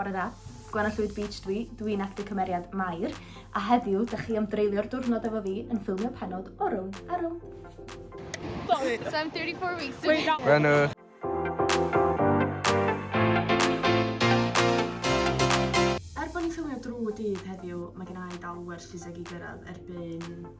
Bore da. Gwenno Llwyd Beach dwi, dwi'n actor cymeriad Mair, a heddiw dych chi am dreulio'r diwrnod efo fi yn ffilmio penod o rown a rown. Sorry. So I'm 34 weeks. Gwenno. Er bod ni'n ffilmio drwy dydd heddiw, mae gen i dal werth ffiseg i gyrraedd erbyn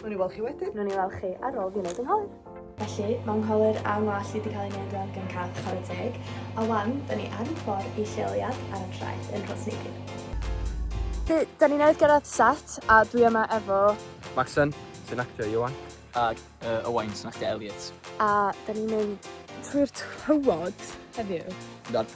Nw'n i weld chi wedyn. Nw'n i weld chi ar ôl fi wneud yng Ngholer. Felly, mae Ngholer a Ngwallt wedi cael ei wneud rwan gan Cath chwarae teg, a wan, da ni ar y ffordd i lleoliad ar y traeth yn Rhos Neidyn. Felly, da ni newydd gyrraedd set, a dwi yma efo... Macsen, sy'n actio Iwan. Ac uh, Owain, sy'n actio Elliot. A da ni'n mynd trwy'r tywod heddiw. Dad.